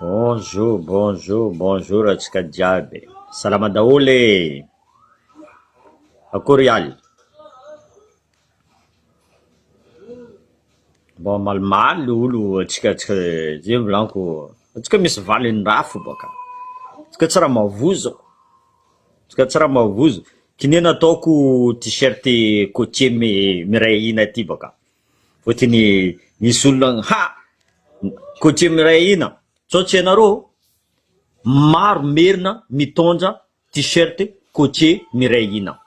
Bonjour bonjour bonjour antsika jiaby salama daholo e! Akory ialy? Mba malimaly le olo antsika antsika zay volaniko antsika misy valiny raha fo baka antsika tsy raha mavozo antsika tsy raha mavozo k'inona ataoko tee-shirt cotier miray hina ty baka. Fotony misy olona ha! Coutume iray ahina, sao tsy hainareo? Maro merina mitondra t-shirt cotier miray hina.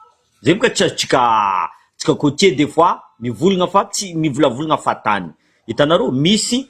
Zay boka tsy azontsika tsika cotier des fois mivolagna fa tsy mivolavolagna fahatany. Hitanareo misy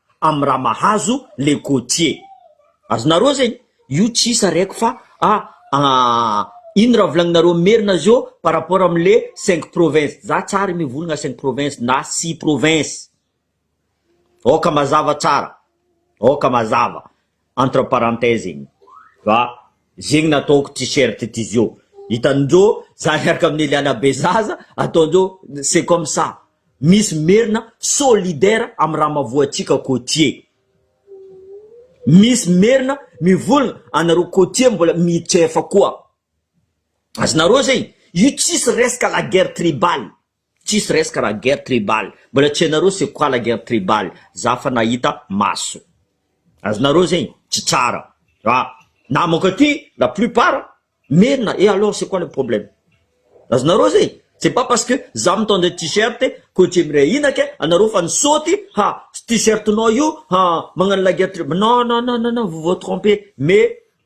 am raha mahazo le côtier azonareo zegny io tsy isa reko fa a ino raha volagninareo merina zio par rapport am le cinq province za tsary mivolagna cinq province na six province ôka mazava tsara ôka mazava entre parenthèse iny fa zegny nataoko t-shirt ty zio hitanindreo za miaraka amin'ny eliana be zaza ataondreo c'est comme ça misy merina solidaire amin'ny raha mavoatsika côtier misy merina mivolagna anareo côtier mbola mitrefa koa azonareo zegny io tsisy resaka la guerre tribale Tsisy resaka raha guerre tribal, mbola tsy hainareo c'est quoi la guerre tribal, za efa nahita maso. Azonareo zegny tsy tsara fa na manko aty la plupart merina et alors c'est quoi le problème? Azonareo zegny, c'est pas parce que za mitondra t-shirt ko tsy miray hina ke anareo fa nisaoty ha t-shirt nao io ha magnano la guerre tribal, non non non non vous vous trompez mais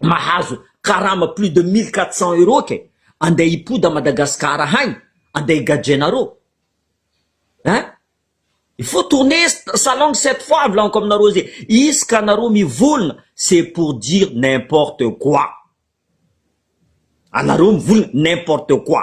mahazo karama plus de mille quatre cents euros kay andeha hipody à Madagascar hain andeha higadrenareo hein il faut tourner sa langue cette fois volaniko aminareo ze izy ka nareo mivolona c'est pour dire n'importe quoi anareo mivolona n'importe quoi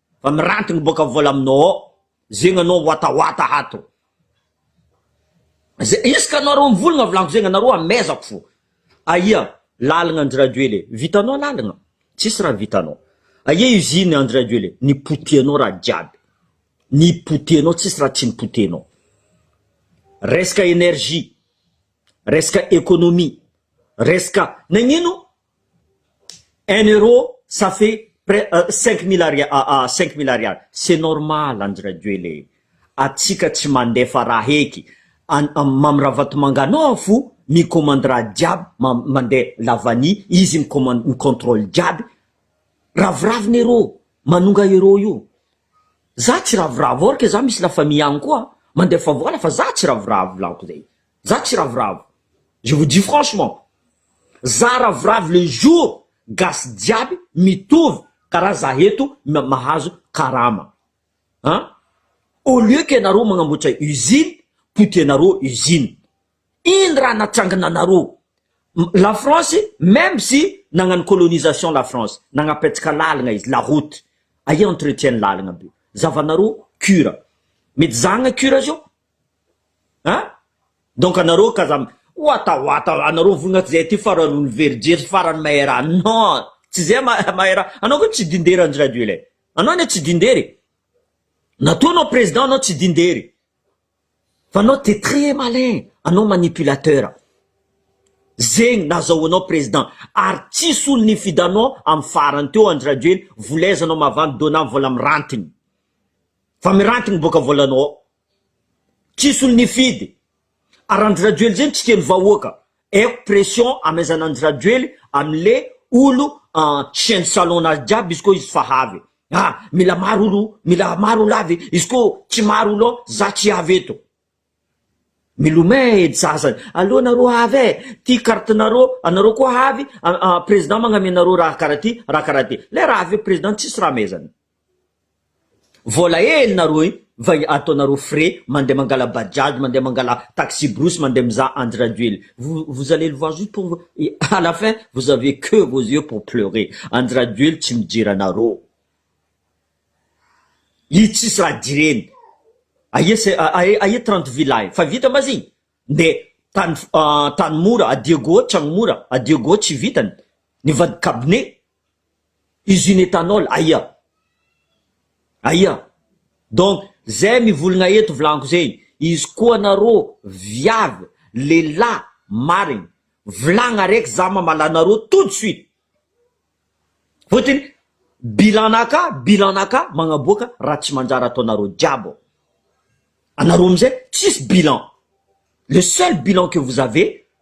Fa miranty gny boka vola aminao ao zegny anao watawata hato ze isaka anareo mivolagna volagno zegny anareo amezako fo aia lalagna Andry Rajoely e vitanao lalagna tsisy raha vitanao aia usine Andry Rajoely e nipotehanao raha jiaby nipotehanao tsisy raha tsy nipotehanao resaka energie resaka economie resaka nagnino Un euro ça fait pres cinq mille ari cinq mille ariary c'est normal Andry Rajoel e! atsika tsy mandefa raha heky an Mamy Ravatomanga anao fo mi-commande raha jiaby ma mandeha lavani izy mi-commande mi-controle jiaby ravoravo ny euro manonga euro io za tsy ravoravo ork za misy la famille any koa mandefa vola fa za tsy ravoravo lanko zay Za tsy ravoravo, je vous dis franchement, za ravoravo le jour gasy jiaby mitovy karaha za eto mahazo karama an! au lieu que nareo magnamboatra usine potianareo usine, ino raha natrangana anareo? la France meme si nagnano colonisation la France nagnapetraka lalagna izy la route aia entretien ny lalagna be zavanareo cure mety zahagna cure zao An! Donc anareo ka aza watawata anareo vonona tsy zay aty farany olomverijery sy farany maera non! Tsy zay ma maera anao ko tsy dindera Andry Rajoel e! Anao anie tsy dindera e! Na toa anao président anao tsy dindera e! Fa anao t'es très malin anao manipulateur zegny nazahoanao président ary tsisy olo nifidy anao am farany teo Andry Rajoel vola aiza anao mavandy dona vola mirantigny. Fa miranty ny boka volanao ao. Tsisy olo nifidy. Ary Andry Rajoely zay mitsikelo vahoaka. Aiko pression amezana Andry Rajoely amle olo chien de salon nazy jiaby izy ko izy fa havy. Ah mila maro olo mila maro olo avy izy ko tsy maro olo ao za tsy avy eto. Milomay edy sasany. Aleo nareo havy e. Ty carte nareo anareo koa havy president magname nareo raha karaha ty raha karaha ty. Le raha avy eo president tsisy raha amezana. Vola hely nareo io va ataonareo frais mandeha mangala bajaj mandeha mangala taxi brousse mandeha mizaha andry rajoely vous allez le voir juste pour à la fin vous avez que vos yeux pour pleurer andry rajoely tsy mijery anareo i tsisy raha jireny aia se aia trente vilay fa vita ma zigny de tany tany mora adia goa tragno mora adia goa tsy vitany nivadikabone usine ethanol aia? aia? donc zay mivolgna eto vlaniko zegny izy koa narô viavy lehilahy marigny vilagna araiky za mamala anarô tout de suite fôtiny bilan naka bilan naka magnaboaka raha tsy manjary ataonarô jiaby anarô amizay tsisy bilan le seul bilan que vous avez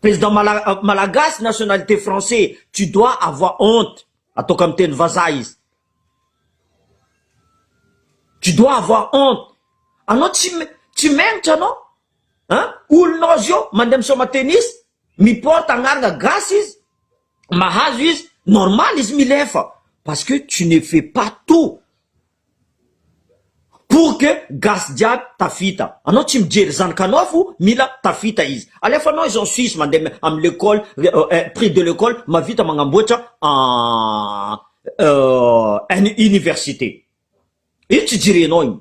Président mala- malagasy nationalité français tu dois avoir honte ataoko amin'ny teny vazaha izy tu dois avoir honte anao tsy me- tsy mengotra anao an olonao zio mandeha misaoma tennis mi porte agnarana gasy izy mahazo izy normal izy milefa parce que tu ne fais pas tout Pour que gasy jiaby tafita. Anao tsy mijery zanakanao fo mila tafita izy. Alefanao izy ao suisse mandeha am l'école prix de l'école mavita magnamboatra an université. Io tsy jerenao io.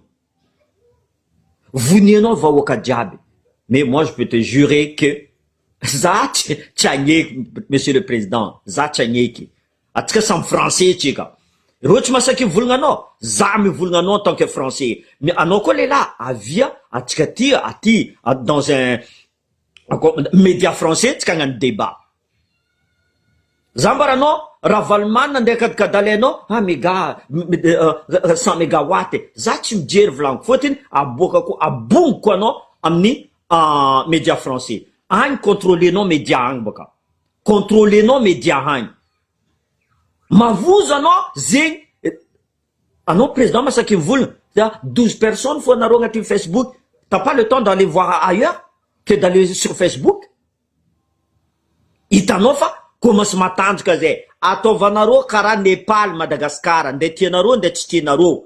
Vonianao vahoaka jiaby. Mais moi je peux te jurer que za tsy agneky monsieur le président za tsy agneky. Atsika samy français tsika. Reo tsy masaky hivolgna anao, za mivolgna anao en tant que français. Mais anao koa lehilahy avia atsika aty aty dans un akô media français tsika agnano débat. Za ambaranao Ravalomanana andeha akadikadaly anao ah mega cent megawatt e. Za tsy mijery volagniko fôtiny aboakako abongoko anao amin'ny media français. Agny contrôler-nao media agny bôka. Controlenao media agny. Mavozo anao zegny anao président masaky mivolagna dia douze personnes fô anareo agnatin'ny Facebook t'as pas le temps d'aller voir ailleurs que d'aller sur Facebook hitanao fa commence matanjaka zay ataovanareo karaha Nepal Madagascar nde tianareo nde tsy tianareo.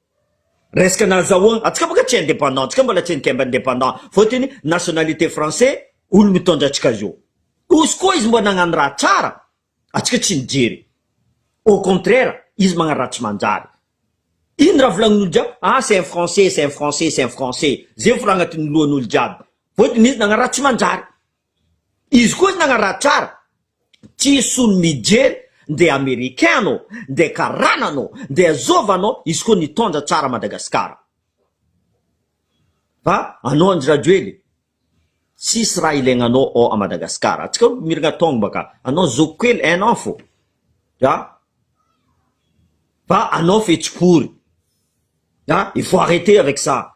Resaka nazahoa antsika baka tsy indépendant antsika mbola tsy nikemba indépendant fotiny nationalité français olo mitondra antsika zao ozy koa izy mba nagnano raha tsara antsika tsy nijery au contraire izy magnano raha tsy manjary ino raha volagnin'olo jiaby ah c'est un français c'est un français c'est un français zay volagna tiny lohan'olo jiaby fotiny izy nagnano raha tsy manjary Izy koa na ratsara tsy solo mijery nde americain anao nde karana anao nde azova anao izy koa nitondra tsara Madagascar fa anao Andry Rajoely tsisy raha ilainanao ao a Madagascar atsika mirgna tongba ka anao zoky kely un an fo a fa anao fetsy pory a il faut arreter avec ça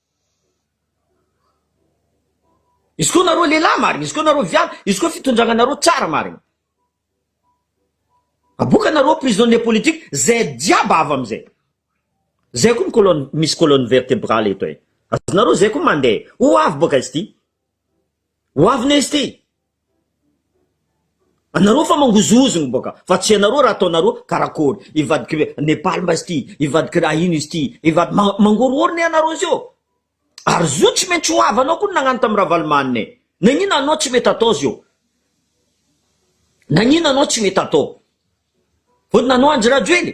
Izy koa nareo lehilahy marigny, izy koa nareo viavy, izy koa fitondragnanareo tsara marigny. Aboka anareo prisonnier politique zay jiaby avy amizay. Zay koa ny colonne misy colonne vertebrale eto e. Azonareo zay koa mandeha. Ho avy boka izy ty. Ho avy ne izy ty. Anareo fa mangozongozona boka fa tsy anareo raha ataonareo karakory ivadik'i Nepal mba izy ty ivadik'i raha ino izy ty ivad ma- mangorohoro ne anareo zeo ary zo tsy maintsy ho havanao koa ny nagnano tamin'i Ravalomanana e nagnino anao tsy mety atao zeo nagnino anao tsy mety atao vao nanao Andry Rajoely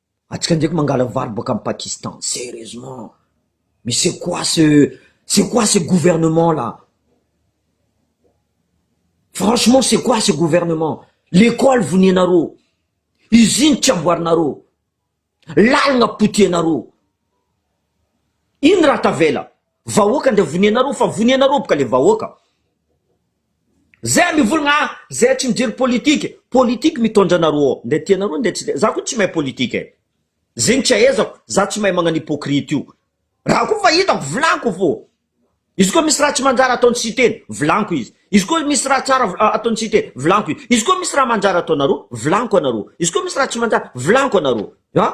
Antsika ndraiky mangala vary boaka am Pakistan, serieusement! Mais c'est quoi ce, c'est quoi ce gouvernement là? Franchement c'est quoi ce gouvernement? Lekôly vonianareo, usine tsy amboarinareo, lalagna potehinareo, ino raha tavela? Vahoaka ndra vonia nareo fa vonia nareo boka le vahoaka zay mivolagna ah zay tsy mijery politique politique mitondra anareo ao ndra tia nareo ndra tsy tia za ko tsy mahay politique eh zegny tsy ahaizako za tsy mahay magnano hypocrite io raha ko fa hitako volaniko fô izy ko misy raha tsy manjary ataony siteny volaniko izy izy ko misy raha tsara ataony siteny volaniko izy izy ko misy raha manjary ataonareo volaniko anareo izy ko misy raha tsy manjary volaniko anareo ah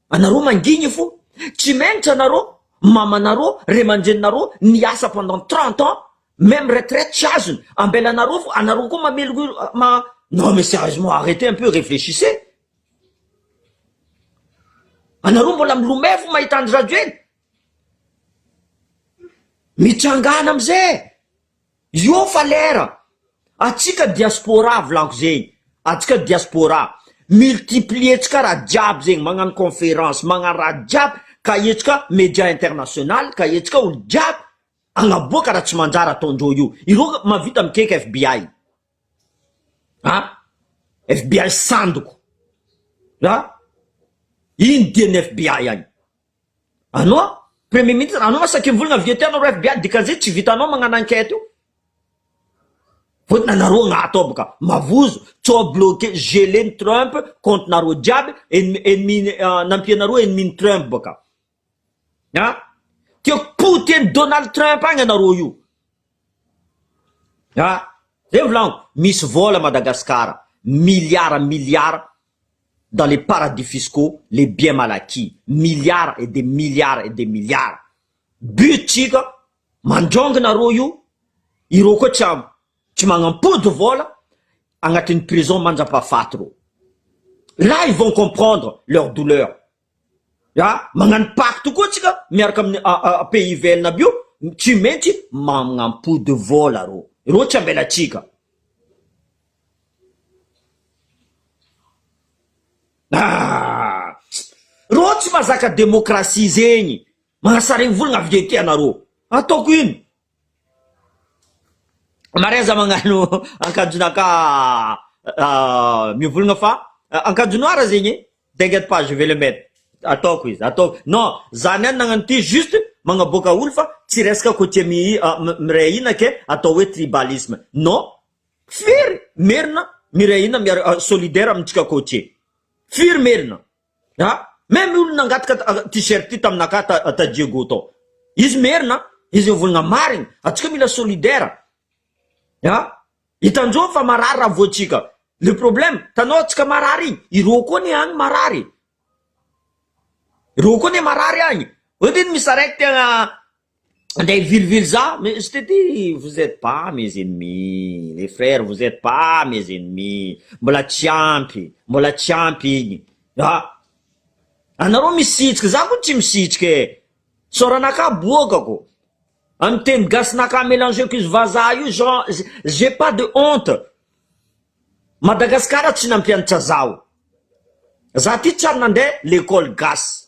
Anareo mangigny fo tsy mentre anareo mamanareo ray aman-dreninareo niasa pendant trente ans meme retraite tsy azony ambelanareo fo anareo koa mamelogno ma non mais serieusement arretez un peu reflechissez anareo mbola milomay fo mahita Andry Rajoely mitsangana amze Io fa lera! Atsika diaspora volako zegny, atsika diaspora multiplier tsika raha jiaby zegny magnano conférence magnano raha jiaby ka etsika media international ka etsika olo jiaby agnaboaka raha tsy manjary ataondreo io, ireo mahavita mikeka FBI. Ah! FBI sandoko a! Ino dian'ny FBI any? Anao premier ministre anao saky mivolagna avy ety anao FBI dikan'izay tsy vitanao magnano enquête io vao nareo agnaty ao boka mavozo co bloquer geler ny Trump compte nareo jiaby ennemi ennemi nampianareo ennemi ny Trump boka. ah dia poty an'i Donald Trump agny anareo io ah zay volaniko misy vola Madagascar milliards milliards dans les paradis fiscaux les biens mal acquis milliards et des milliards et des milliards but tsika mandrongo nareo io ireo koa tsy am tsy manampody vola agnatin'ny prison mandrapahafaty reo là ils vont comprendre leur douleur Ya, magnano pacte tokoa tsika miaraka amin'ny pays ivelany aby io, tsy maintsy magnampody vola rô, rô tsy ambelatsika. Haa! Rô tsy mazaka demokrasia zegny, magnasaregny volagna avy de tia anarô, ataoko ino? Mariaza magnano ankanjon'aka mivolagna fa ankanjo noir zegny e, t'inquiète pas je vais le mettre, ataoko izy ataoko, non za niany nagnano ity juste magnaboaka olo fa tsy resaka côtier mihi- miray hina ke atao hoe tribalisme, non firy merina miray hina miara- solidaire amintsika côtier, firy merina. A! Même olo nangataka t-shirt io taminakà ta Diego tao. Izy merina, izy mivolagna marigny, antsika mila solidaire. A! Hitanjô fa marary raha voantsika. Le problème, tanao antsika marary igny, irô koa anie agny marary e. Irô koa anie marary agny. Ohatrino misy araiky tegna Andeha hivilivily za mais je te dis vous etes pas mes ennemis les frères vous etes pas mes ennemis mbola tsy ampy mbola tsy ampy igny a anareo misitrika za ko tsy misitrika e soranakà boakako amy teny gasinakà mélangeko izy vazaha io jean j'ai pas de honte Madagasikara tsy nampianatra zaho za ty tsy ary nandeha l'école gasy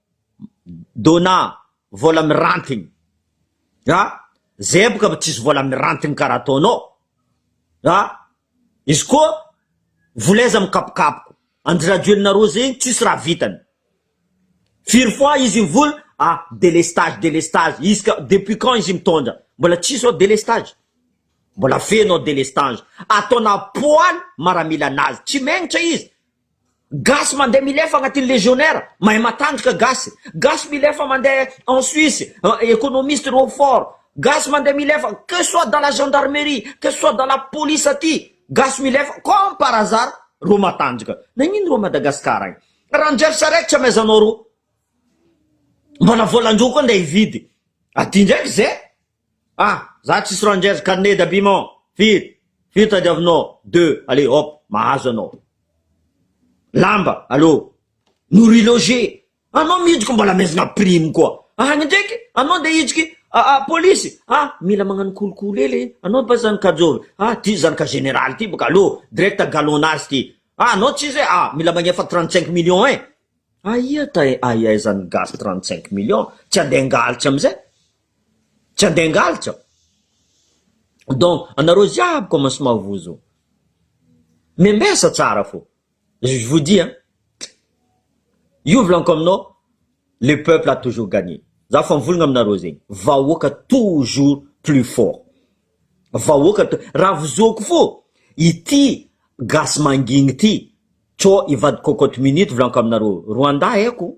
Dona, vola mirantigny a! Zay boka tsisy vola mirantigny karaha ataonao a! Izy koa vola aiza mikapokapoko, an-dRajoelina roa zegny tsisy raha vitany, firy fois izy nivola a délestage délestage, izy ka depuis quand izy mitondra mbola tsisy ô délestage, mbola feno ô délestage, ataonà poaly maramila anazy, tsy megnitra izy Gasy mandeha milefa agnatin'ny legionnaire, mahay matandrika gasy, gasy milefa mandeha en Suisse, economiste reo fort, gasy mandeha milefa que soit dans la gendarmerie, que soit dans la police aty, gasy milefa comme par hasard reo matanjaka, nagnino reo Madagascar agny raha njery charette tsy amaizanao reo, mbala volan-dreo koa ndeha hividy aty ndraiky zay Ah! Za tsisy rangers carnet d'habillement, firy? Firy tadiavinao? Deux, allez hop, mahazo anao. Lamba, allo. Nourri loge, anao mihitsiko mbola mihazona prime koa. Any ndraiky, anao ndeha hitsiky ah, ah, polisy, ah, mila magnano kolikoly hely, anao ba zany kajoro, ah, ty zany ka général ty boka, allo, direct galonage ty, ah, anao tsisy hoe, ah, mila magnefa trente cinq millions eh. Aia tay aia zany gasy trente cinq millions, tsy andeha hangalitsy amizay. Tsy handeha hangalatra aho. Donc anareo jiaby commence mavozo. Members tsara fo. Je vous dis hein. Io volaniko aminao le peuple a toujours gagné. Za fa mivolagna aminareo zegny. Vahoaka toujours plus fort. Vahoaka to- raha vozoako fo ity gasy mangigny ity, co i vadiko cocotte minute volaniko aminareo. Rwanda haiko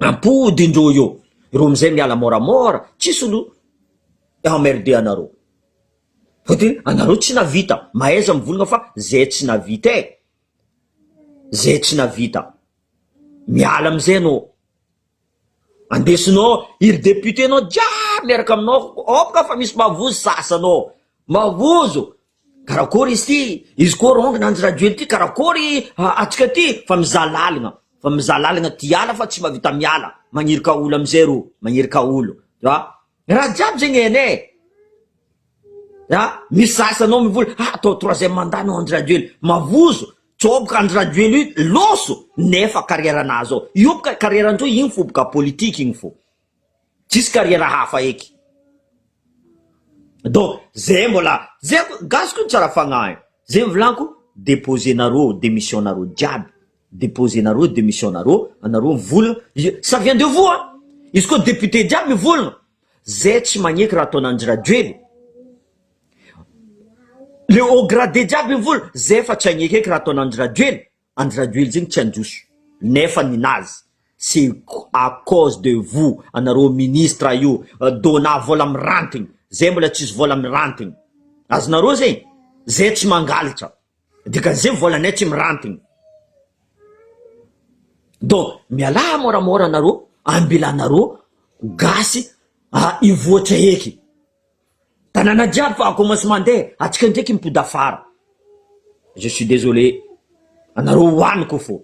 Ampody indroa io ireo amizay miala moramora tsisy no emmerder anareo fa de anareo tsy navita mahaiza mivolagna fa zay tsy navita eh zay tsy navita miala amizay anao andesinao iry depute nao jiaby miaraka aminao ok fa misy mavozo sasany ao mavozo Karakôry izy ty? Izy koa rong nanjy rajoely ty karakôry atsika ty? Fa mizaha lalagna fa mizaha lalagna ty hiala fa tsy mba vita miala magnirika olo amizay rô magnirika olo a raha jiaby zegny hainay e a misy sasy anao mivola ha atao troisième mandat anao andry rajoely mavozo tsôboka andry rajoely io loso nefa carrière nahazo io boka carrière ndreo igny fô boka politique igny fô. tsisy carrière hafa eky donc zay mbola zay gasy ko tsara fagnahy zay mivolanko deposer nareo demission nareo jiaby deposer nareo demission nareo anareo mivolagna ça vient de vous an izy ko député jiaby mivolagna zay tsy magneky raha ataonao ndry rajoely le haut gradé jiaby mivolagna zay efa tsy agnekeky raha ataonao ndry rajoely. Andry Rajoely zegny tsy handroso nefa ny nazy c'est à cause de vous anareo ministre io dona vola mirantigny zay mbola tsisy vola mirantigny azonareo zegny zay tsy mangalatra dikan'izay volanay tsy mirantigny donc mialà môramôra anareo ambilanareo gasy hivoatra eky. Tanàna jiaby fa commence mandeha atsika ndraiky mipody afara je suis désolé anareo ho any ko fô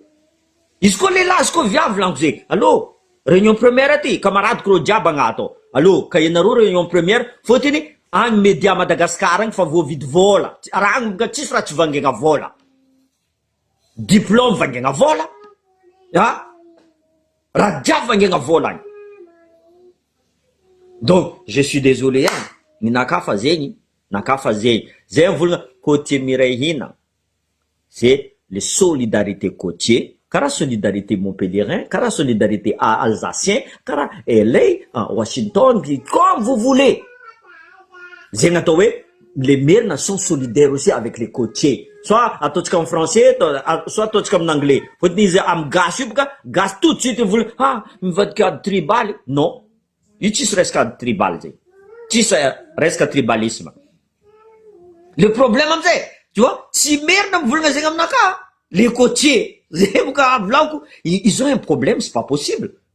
izy koa lehilahy izy koa viavy lanko ze allo réunion première aty kamaradiko reo jiaby agnaty ao allo ka ianareo réunion première fôtiny agny media Madagascar agny fa voavidy vôla raha agny ka tsisy raha tsy vangaina vôla. Diplôme vaingaina vola a! Rajafy vaingaina vola any! Donc je suis désolé an! Ny naka fa zegny naka fa zegny! Zay ny volana côtier miray hina c'est le solidarité côtier karaha solidarité montpellierain karaha solidarité alsacien karaha LA an Washington comme vous voulez! Zegny atao hoe Les merina sont solidaires aussi avec les cotiers soit ataontsika amin'ny français soit ataontsika amin'ny anglais fôtony izy amin'ny gasy io boka gasy tout de suite mivola ha mivadika ady tribaly non io tsisy resaka ady tribaly zay tsisy resaka tribalisme le problème amizay tu vois tsy merina mivolagna zegny aminakahy le cotier zay boka avy laoko izao un problème c'est pas possible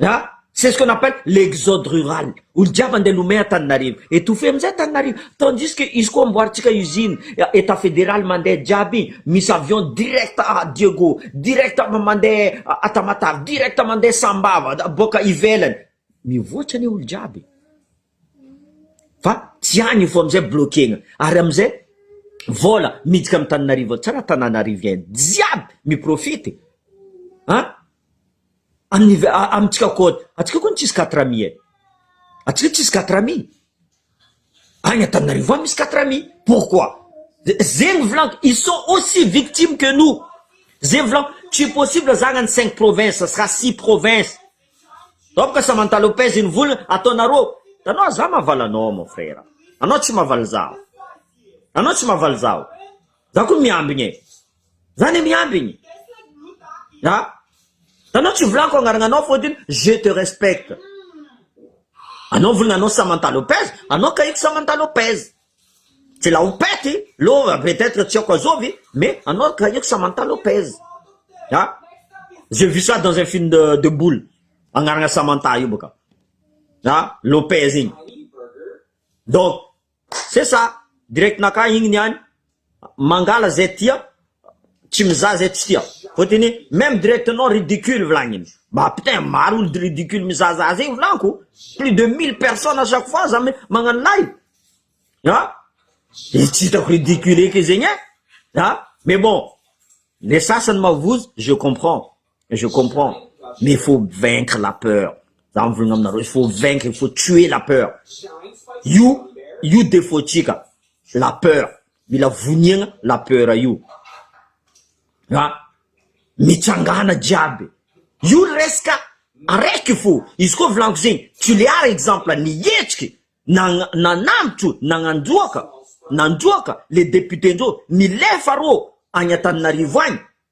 Ah! C'est ce qu'on appelle l'exode rural, olo jiaby andeha lomay Antananarivo, étouffé amizay Antananarivo, tandis que izy koa amboarintsika usine, etat fédéral mandeha jiaby, misy avion direct à Diego, direct mandeha à Tamatave, direct mandeha Sambava, boaka ivelany, mivoatra anie olo jiaby e! fa tsy any io fô amizay bloquena, ary amizay vôla miditra am Tananarivo ao, tsy raha Tananarivien jiaby mi profite an! Amin'ny amintsika koa, antsika koa tsisy quatre amis e, antsika tsisy quatre amis, any Antananarivo any misy quatre amis, pourquoi? zegny volako ils sont aussi victimes que nous, zegny volako tsy possible zagny ny cinq provinces sa six provinces, zao bôka Samantha Lopez io nivola ataonareo, hitanao za mahavaly anao mon frère, anao tsy mahavaly zaho, anao tsy mahavaly zaho, za koa miambigny e. Zany miamby ny a anao tsy volako agnaragnanao fotony je te respecte anao volana anao Samantha Lopez anao kahiko Samantha Lopez tsy la opety lova peut être tsy aoko azovy mais anao kahiko Samantha Lopez a je vu ça dans un film de de boule agnarana Samantha io boka a Lopez igny donc C'est ça! Direct naka igny niany mangala zay tia tsy mizaha zay tsy tia fotony meme direct nao ridicule volagniny ba putain maro olo ridicule mizahazaha zegny volanko plus de mille personnes à chaque fois za magnano live a de tsy hitako ridicule eky zegny e a mais bon le sasany mavozo je comprends Je comprends mais il faut vaincre la peur za mivolagna aminareo il faut vaincre il faut tuer la peur io io defaut tsika la peur mila voniagna la peur io a mitsangana jiaby io resaka araiky fo izy koa volaniko zegny tulear exemple nihetsiky nagna- nanambotro nagnandroaka nandroaka le député ndreo milefa rô agny antananarivo agny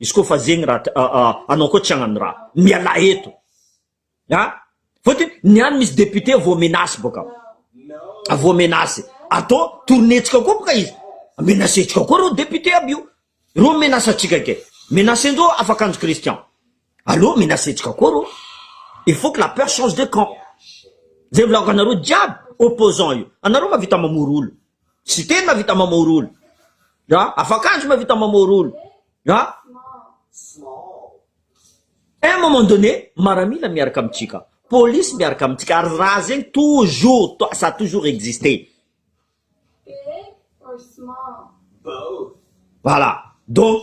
Izy koa fa zegny raha anao koa tsy hagnano raha mialà eto a! Fôtony ny any misy député voa menace bôka, voa menace atô tourner-tsika koa bôka izy, menace-tsika koa reo député aby io, reo mi-menace antsika ke, menace-ndreo afakanjo Christian, aleo menace-tsika koa reo, il faut que la peur change de camp, zay volako anareo jiaby opposant io, anareo mahavita mamory olo, Siteny mahavita mamory olo. Ya. Afakanjo mahavita mamory olo. Ya. A un moment donné, maramila miaraka amintsika, polisy miaraka amintsika ary raha zegny toujours to- ça a toujours existé. Voilà. Donc,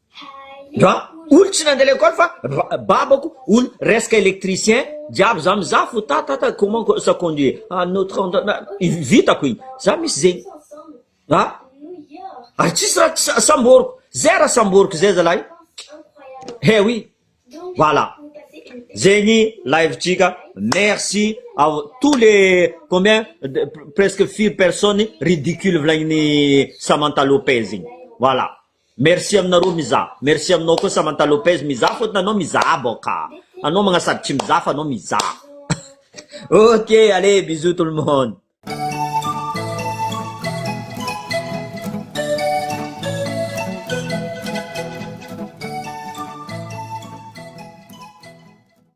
Ra olo tsy nande lekole fa babako olo resaka electricien jiaby za mizaha fo ta ta ta comment ça conduire à notre vitako igny za misy zegny a ary tsisy ra samboriko zay ra samboriko zay zalahy eh oui voilà zegny live tsika merci à tous les combien presque firy personne ridicule volagniny Samantha Lopez igny voilà. Merci aminareo mizaha. Merci aminao koa Samantha Lopez mizaha fotony anao mizaha baoka. Anao magna sady tsy mizaha fa anao mizaha. ok allez bisous tout le monde.